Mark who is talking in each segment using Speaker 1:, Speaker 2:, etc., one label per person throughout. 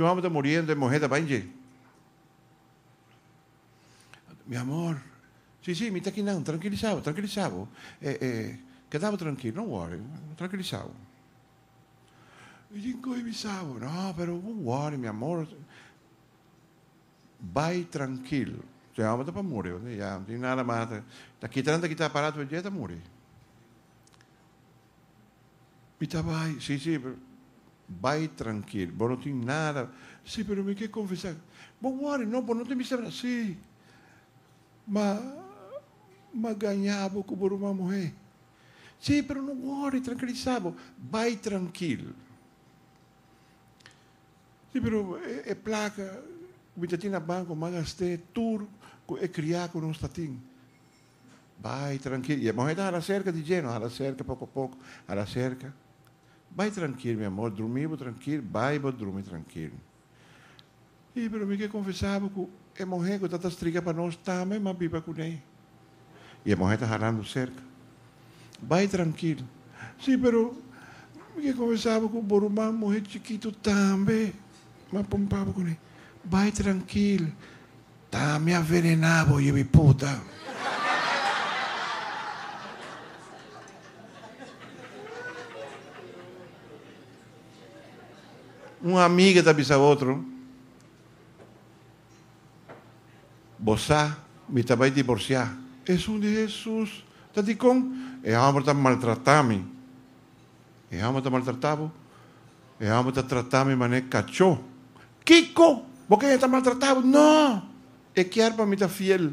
Speaker 1: Tjou amo ta muriendo, e muhé ta bai dje. Mi amor, Sí, sí, mi ta aki nan, trankilisá bo, trankilisá bo. E, e, keda bo trankil, no wòri, trankilisá bo. Mi tin kohe mi sabo, no, pero bo wòri, mi amor. Bai trankil, e òmber ta pa muri, oye, ya no tin nada mas, ta kita nan ta kita aparato dje, ta muri. Mi ta bai. Sí, sí, pero bai trankil. Bo no tin nada. Sí, pero mi ke konfesá. Bo wòri no, bo no ta mester na. Sí, ma m'a gañá bo ku bo ruman muhé. Sí, pero no wòri, trankilisá bo. Bai trankil. Sí, pero e plaka ku mi ta tin na banko m'a gast'é tur ku e kriá ku nos ta tin. Bai trankil, i e muhé ta hala serka di dje, no hala serka poko a poko, hala serka. Bai trankil mi amor, drumí bo trankil, bai bo drumi trankil. E, pero mi ke konfesá bo ku e muhé ku ta ta strika pa nos tambe m'a biba kuné. I e muhé ta halando serka. Bai trankil. Sí, pero mi ke konfesá bo ku bo ruman muhé chikitu tambe m'a pumpa bo kuné. Bai trankil. Ta mi a venená bo yebiputa. Un amiga ta bisa otro, Bo sa mi ta bai diborsiá. Esun di Hesus ta dikon? E hòmber ta maltratá mi. E hòmber ta maltratá bo? E hòmber ta tratá mi manera kachó. Kiko? Bo kende ta maltratá bo? No! E kier pa mi ta fiel.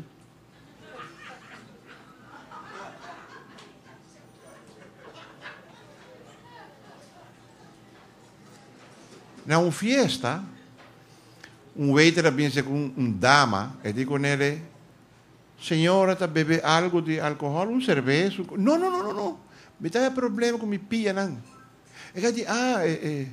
Speaker 1: Na un fiesta, un waiter a binse cu un dama, e di con ele, Señora, ta bebe algo di alcohol? Un cerveza? Un co-? No, no, no, no, no! Mi ta haña problema cu mi pianan. E ka di, Ah, e, e.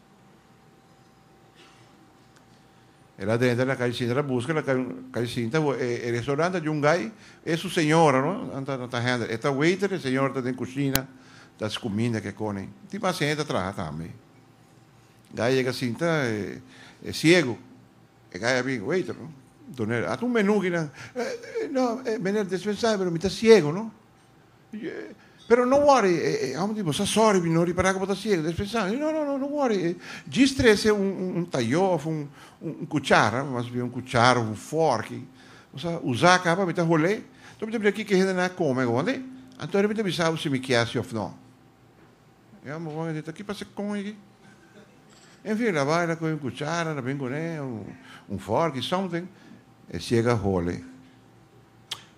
Speaker 1: E la drenta na kai sinta, ta buska na kai sinta. E restoran ta di un gai, e su señora no, nan ta ta handle. E ta waiter, e señora ta den kushina ta skuminda ke koni. Tin mas hende ta traha tambe. Gai yega sinta, e siegu, e gai a bin, waiter no, Doner, a ta un menu kinan, No, meneer, dispensaai pero mi ta siegu no. Pero no wòri, e hòmber di, Bo sa sòri mi, no ripará ku bo ta siegu? Ellos pensa, No, no, no, no wòri. Djis trese un tayó òf un kuchara, mas bien un kuchara òf un fòrk, i bo sa usa aká pa mi ta hol'é, anto mi ta mira kiko e hendenan a kome awònde, anto mi ta bisa bo si mi kier si òf no. E hòmber bon a di, Ta ki pasa kon e aki? En fin, el a bai, el a kohe un kuchara, el a bin kuné, un fòrk, something, e siegu a hol'é.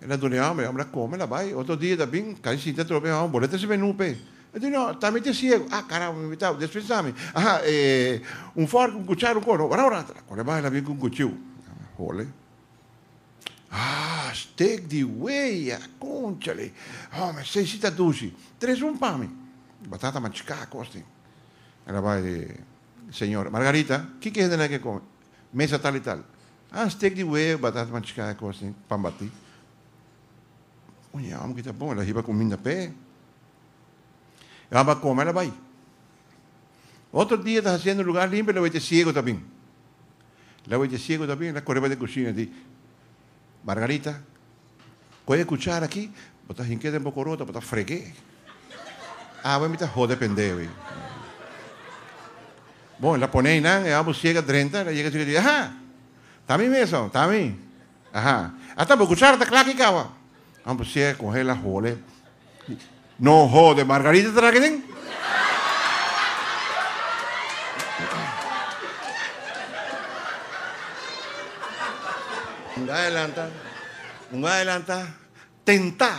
Speaker 1: E ta dune hòmber. E hòmber a kome, el a bai. Otro dia e ta bin, kai sinta atrobe e hòmber. Bo no trese menú p'e? E di, No, ta mi t'e siegu. Ah, karamber, mi tabata des pensa mi. Aha, e, un fòrk, un kuchara, un koro. Wràw, wràw. Kòrda e bai, el a bin ku un kuchiu. Hole. Ah, stek di weya. Konchale. Hòmber, sei si ta dushi. Trese un pa mi. Batata machiká kos tin. El a bai, Señor. Margarita, kiko e hendenan ke kome? Mesa tal i tal. Ah steak di wee, batata machiká e kos tin pan batí. Un e hòmber ki ta bon, el a hiba kuminda p'e. E hòmber a kome, el a bai. Otro dia el ta hasiendo lugá limpio, el a wea t'e siego ta bin. El a wea t'e siego ta bin, el a kore bai den kushina, el a di, Margarita. Kohe e kuchara aki, bo ta hink'é den bo korota, bo ta freg'é. Awe mi ta hode pendeu ei. Bon, el a pone einan, e omo siega drenta, el a yega chik a di, Aha! Ta mi mes awa, ta mi. Aha! Ata bo kuchara ta klaki kawa. Omo siega konhe el a hole. No hode, Margarita ta na aki den? Un gaya lanta, un gaya lanta, tenta,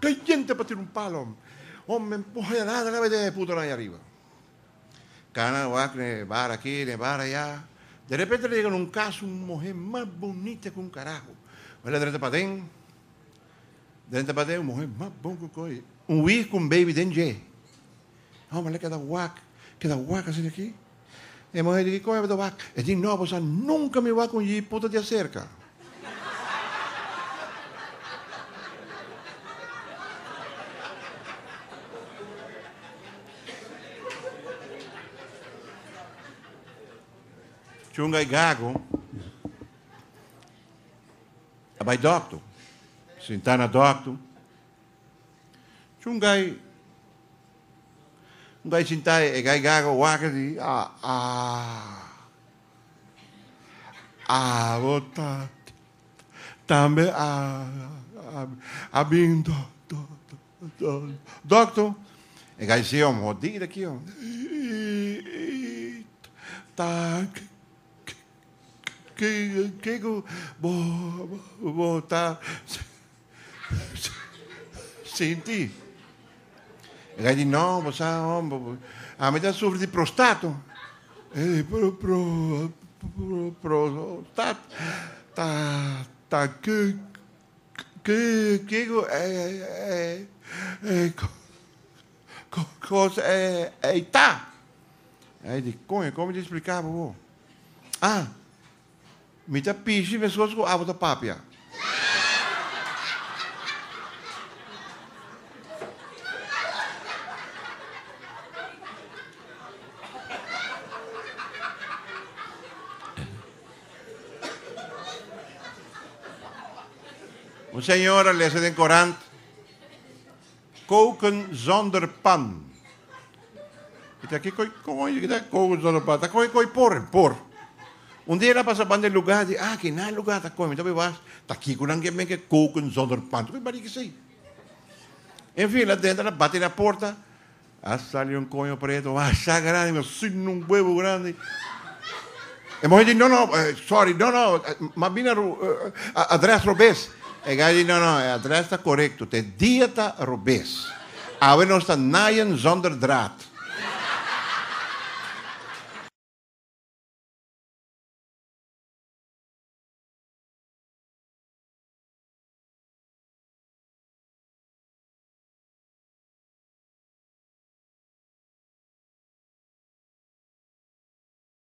Speaker 1: kayente pa tira un palo. Hombre, puñalada na mete e putonan ay ariba. Kana a wak den e bar aki, den e bar aya. De repente ta yega na un kas un muhé mas bunita ku un karajo. Bai la drenta paden. Den tabata e muhé mas bon ku koi un wig ku un beibi den dje. E homber a keda wak, keda wak asina aki. E muhé di, Kiko tabata wak? E di, No, bo sa nunka mi wak un yi puta di aserka. Chunga i gago. A bai dòkter. Sintá na dòkter. Chungai. Un gai sintá e gai gaga waka di aa aa bo ta tambe a a bin dòkter. E gai si om hodida ki om. Ii ii ta Ke ku bo ta sinti? E kai di, No, bo sa, hombre, ami ta sufri di prostato. E prostato ta ke ku e kos ei ta? E kai di, Koño, e kon mi ta spliká pa bo? A, Mi ta pishi mescos cu abo ta papia. Un señora lesa den corant. Koken zonder pan. E ta kiko i kon oye kita koken zonder pan? Ta koe koi por en por. Un dia nan pasa banda e luga di aki, nan e luga ta koe mi ta bai wak ta kiko nan ke meke koken zonder pan. Ta koe bari kesei. En fin nan denter nan bati na porta, a sali un koño preto, wak sa grandi, sin un huevo grandi. E muhe di, No, no, sorry, no, no, m'a bini adrès robes. E guy di, No, no, e adrès ta korekto, te dia ta robes. Awe nos ta nayen zonder draad.